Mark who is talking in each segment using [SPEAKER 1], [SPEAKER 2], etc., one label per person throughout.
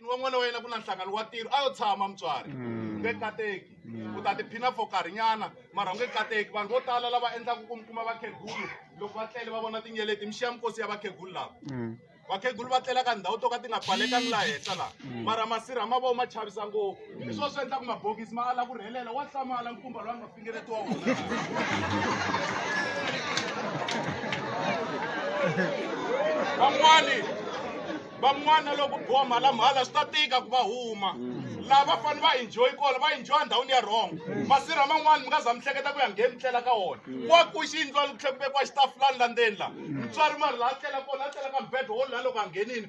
[SPEAKER 1] wa n'wana wa yena ku na nhlangano wa tiro a yo tshama mutswari mm. nge kateki mm. u ta tiphina for karhinyana mara u nge kateki vanhu vo tala lava endlaka ku mi kuma vakhegulu loko va tlele va vona tinyeleti mi xiya mikosi ya vakhegulu lava mm. vakhegulu va tlela ka ndhawu to ka ti nga pfalekangi laha henhla laha mara masirha ma vona ma chavisa ngopfu i swona swi endlaku mabokisi ma ala ku rhelela wa hlamala nkumba lowa nga van'wani van'wana loko boha mhalamhala swi ta tika ku va huma laha va fanele va enjoy kona va enjoy ndhawini ya wrong masirha man'wani mi nga za mi hleketa ku ya ngheni mi tlela ka wona wa ku xi yindlwani ku tlhe ku vekiwa xitafulani la ndzeni la mutswari mari laha tlela kona a tlela ka mubedwa wo lula loko a nghenini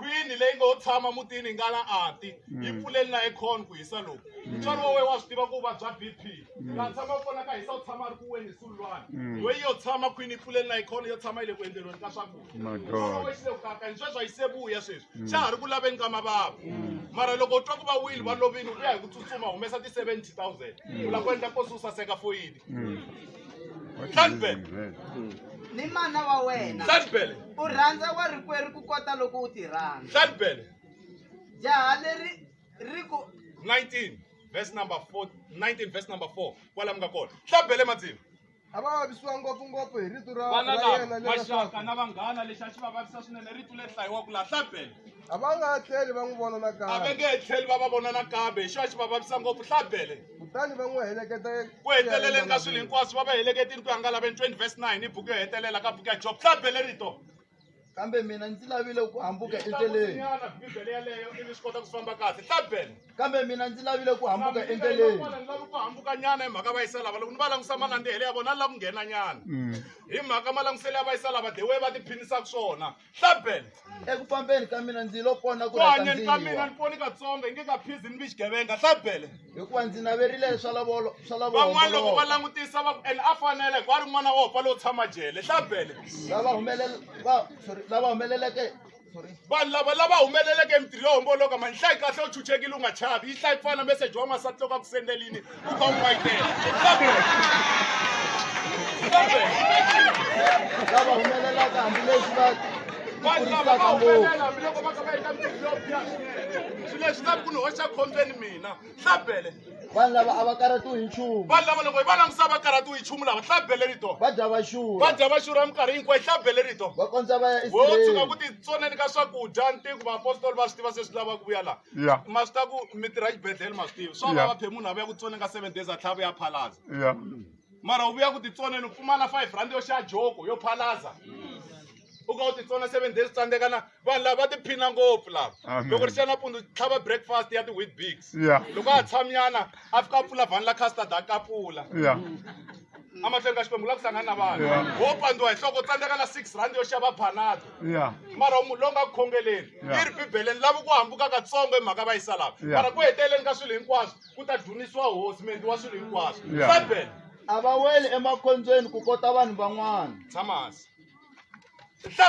[SPEAKER 1] khwini leyi ngo tshama mutini nga la ati mm. yi pfuleli na econ ku hisa loku mm. mutswari wa wena wa swi tiva ku vabya b p mm. laha tshama kona ka hisa u tshama a ri ku weni hi sululwana loyi yo tshama khwini yi pfuleli na econ yo tshama yi le ku endleriweni ka swakudyaxilekukaka ni sweswi a yi se vuya sweswi xa ha ri ku laveni ka mavava mara loko u twa ku va wile va lovini u ya hi ku tsutsuma humesa ti-seventy thousand u lava ku endla kosi u saseka foyini
[SPEAKER 2] Sanibele. ni mana wa wena Sanibele. u rhandza wa rikwerhu ku kota loko u ti rhandza Sanibele. jaha leri ri ku 19
[SPEAKER 1] verse number 4 19 verse number 4 kwala mi nga kona hlabele madzimu a va vavisiwa
[SPEAKER 3] ngopfungopfu hi rito ra vana ra lava yena maxaka lerasaka
[SPEAKER 1] na
[SPEAKER 3] vanghana
[SPEAKER 1] lexi a xi va vavisa swinene rito le hlayiwa ku laha hlabele a va nga
[SPEAKER 3] tlheli va n'wi vona a va nakambe nge he tlheli
[SPEAKER 1] va
[SPEAKER 3] va vona
[SPEAKER 1] nakambe hi xona xi va vavisa ngopfu hlabele kutani va n'wi
[SPEAKER 3] heleketa ku heteleleni ka
[SPEAKER 1] swilo hinkwaswo va va heleketini ku ya nga laveni 20 verse 9 i buku yo hetelela ka buku ya job tla bele rito kambe mina
[SPEAKER 3] ndzi lavile ku hambuka endleleni Nyana, bibele yaleyo
[SPEAKER 1] ivi swi kota ku famba kahle tla bele kambe mina ndzi
[SPEAKER 3] lavile ku hambuka endleleni Vanhu lava ku hambuka
[SPEAKER 1] nyana hi mhaka va yisa lava loko ni va langusa malandzihele ya vona ni lava ku nghena nyana hi mhaka malanguselelo ya va yisa lava the way va tiphinisaka swona hlaben eku fambeni
[SPEAKER 3] ka mina ndzi lo pona ku ku hanyeni ka mina rhandziwa ni poni
[SPEAKER 1] katsongo hi nge ka phizi ni vi xigevenga hlabele hikuva ndzi naverile
[SPEAKER 3] swa lavolo swa van'wana loko va
[SPEAKER 1] lavolo langutisa va ku ene a fanele hikuva a ri n'wana wa hopa lowo tshama jele hlabele lava humelele va sorry
[SPEAKER 3] lava humeleleke sorry vanhu lava
[SPEAKER 1] lava humeleleke mintirho yo homboloka mani hlayi kahle u chuchekile u nga chavi yi hlayi ku fana na meseji wa n'wansati loko a ku sendelini Who going right there?
[SPEAKER 3] Stop it. Stop it. Lava humelela ka hambileswi va vanhu lava va humelela
[SPEAKER 1] hambiloko va ka va eka mintirho yo biha swinene swilo leswi nga ku ni hoxa khombyeni mina hlabele vanhu lava a va
[SPEAKER 3] karhatiwi hi nchumu vanhu lava loko hi va langutisa
[SPEAKER 1] va karhatiwi hi nchumu lava hlabele rito va dya va xurha va
[SPEAKER 3] dya va xurha minkarhi
[SPEAKER 1] hinkwayo hlabele rito va kondza va ya wo tshuka
[SPEAKER 3] ku isirayele titsoneni
[SPEAKER 1] ka swakudya ntiko vaapostoli va swi tiva se swi lava ku vuya laha ya ma swi ta ku mi tirha xibedhlele ma swi tivi swa Yeah. vava phe munhu a vuya ku tsone ka seven days a tlhava ya phalaza ya mara u vuya ku titsoneni u pfumala five rand yo xava joko yo phalaza u ka u titsona seven days tsandzeka na vanhu lava va tiphina ngopfu lava Amen. loko ri xa nampundzu tlhava breakfast ya ti-wheat bigs ya loko a tshamyana a fika a pfula vhani la custard a kapula ya amahlweni ka xikwembu u lava ku hlangana na vanhu wo pandziwa hi nhloko tsandzeka na six rand yo xava panado mara munhu lowu nga ku khongeleni yi ri bibeleni lava ku hambuka katsongo hi mhaka va yisa lava mara ku heteleleni ka swilo hinkwaswo ku ta dunisiwa hosi mendli wa swilo hinkwaswo bibele a va weli
[SPEAKER 3] emakhondzweni ku kota vanhu van'wana tshamasi